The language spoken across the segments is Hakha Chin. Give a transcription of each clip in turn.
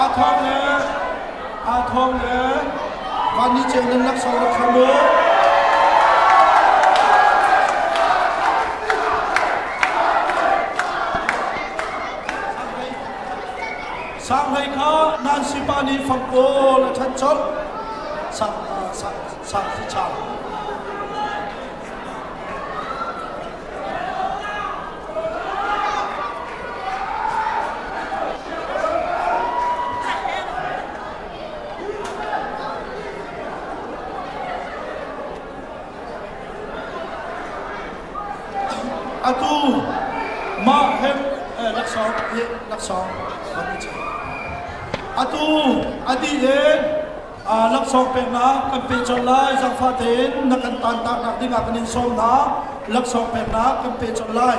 Aa thawng le aa thawng le van ni ceu nan laksawng rak kha mu. Sang hlei kha nan si pa nih fang pawl a than chok. Sang sang sang si chang. Atu mah hem eh, laksawng hi laksawng kan i check. Atu a dih in laksawng peknak kan pe colh lai zangfah tein na kan tantaknak dingah kan in sawm hna laksawng peknak kan pe colh lai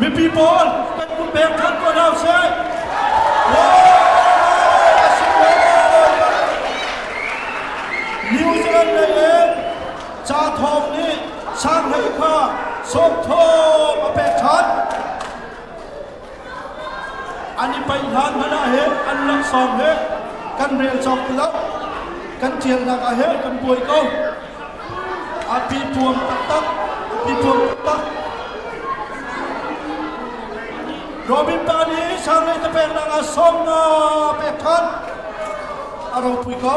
Mipi pawl kan vun pek ṭhan ko hna usih. New Zealand lei in ca thawng nih Shanghai kha sawmthawm a pek ṭhan. An i paih hlan hmanh ah hin an laksawng he kan rel cawk ti lo. Kan ṭialnak ah hin kan buai ko. A pipuam taktak. Pipuam taktak. Robin pa nih Charley te peknak ah sawm nga pek ṭhan. A ropui ko.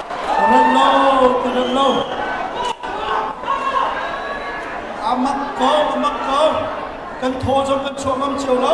ka rat lo ka rat lo a mak ko a mak ko kan thaw zong kan chuah ngam cio lo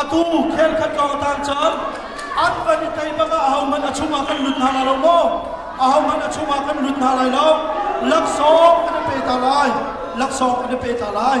atu khenkhat ka tan caan an kan i tei bak ah ahohmanh a chungah kan lut hna lai lo maw ahohmanh a chungah kan lut hna lai lo laksawng kan i pe ta lai laksawng kan i pe ta lai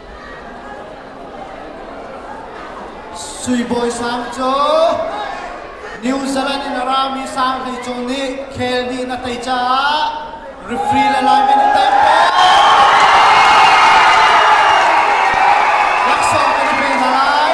Suibawi sang cu New Zealand in a rami sang hlei cung nih khel ni na tei caah referee le lineman in tai pek. Laksawng kan i pe hna lai.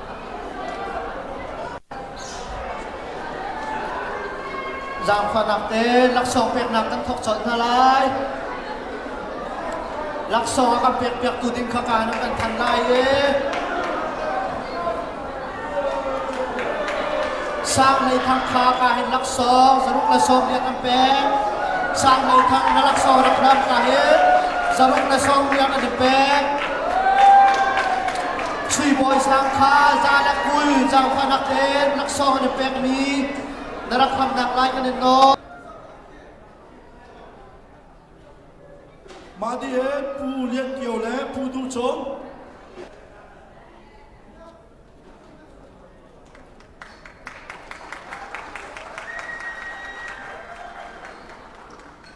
Zaangfahnak te laksawng peknak kan thawk colh hna lai. Laksawng a kan pekpiaktu ding kha kaan u kan than lai i sang hlei thang kha ka hin laksawng zaruk le sawm lian an pek sang hlei thang na laksawng rak hram ka hin zaruk le sawm lian an pek Sui bawi sang kha za le kul zaangfah nak le naksawng an i pekmi na rak khamnak lai kan in nawl. Mah di he Pu Lian Kio le Pu Du Cung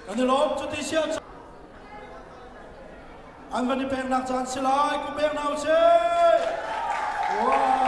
Kan i lawm cu ti sian an van i peknak caan si lai ku pek na usih wow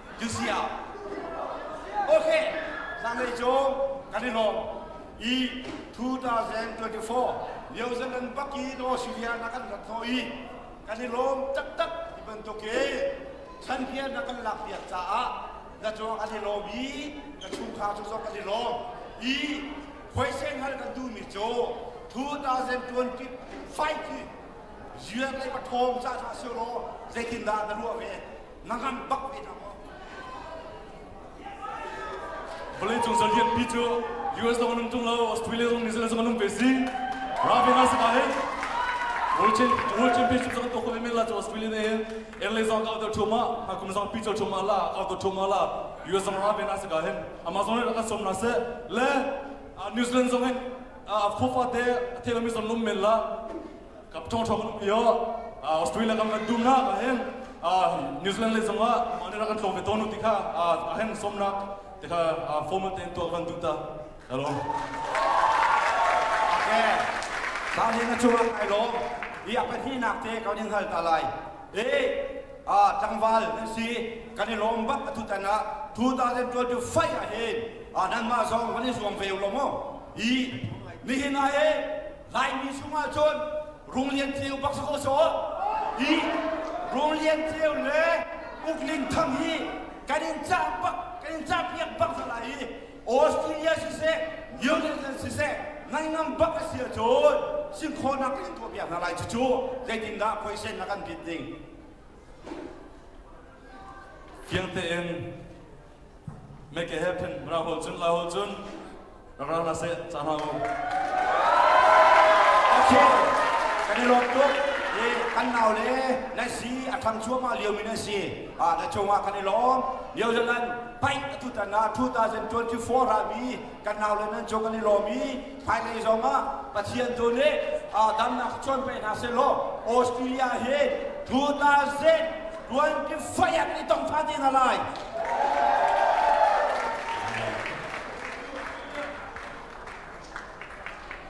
cu si ah ok zanlei cu kan i lawm i 2024 New Zealand baki in Australia na kan rat thaw i kan i lawm taktak ti bantuk i chan hian na kan lak piak caah na cung kan i lawm i na chungkhar cu zong kan i lawm i khoise ngal kan duhmi cu 2025 hi ziar lei pathawng cah hlah sih law zeitindah na ruah ve nangan bak ve hna maw vawlei cung zal lianpi cu US zong an um ṭung lo Australia zong New Zealand zong an um ve si Ravena se ka hin World Championship World Championship zong to ko ve men la chu Australia ne hin Eng le zong ka auto thoma ha kum zong pi cho thoma la auto thoma la US zong Ravena se ka hin Amazon aka som na se le New Zealand zong hin a khofa te a thela mi som lum men la Cup thong thong kan pio Australia kam kan dum na ka heng New Zealand le zong ah mane ra kan tlong ve ton ti kha a heng som na te kha formal te tua kan du ta hello Okay Sa ni na chung ai lom i a pahnih nak te ka din hal ta lai eh a tlangval nan si kan i lom bat atu tan a 2025 a hin a nan ma zong van i zuang ve lo mo i ni hin ai Laimi chungah cun Rung Lian Ceu bak sakaw sawh i Rung Lian Ceu le Uk Ling Thang hi kan in cah bak kan in cah piak bak hna lai i Australia siseh New Zealand siseh naingam bak a si ahcun sinkhawhnak kan in tuah piak hna lai cucu zeitindah khoisen a kan bit ding fiang tein Make a happen. Ra ho cun, la ho cun. Ra ra se, ca ra ho. Okay. Kan i lawm tuk. Hi kan nau le na si a thang chuahmah lio mi na si. Ah na cung ah kan i lawm. Lio zan nan paint a tutan na 2024 ra mi kan nau le nan cu kan i lawm i hmailei zong ah pathian tu nih damnak cuan pe hna seh law australia hi 2000 tuanki fayat ni tong pha te hna lai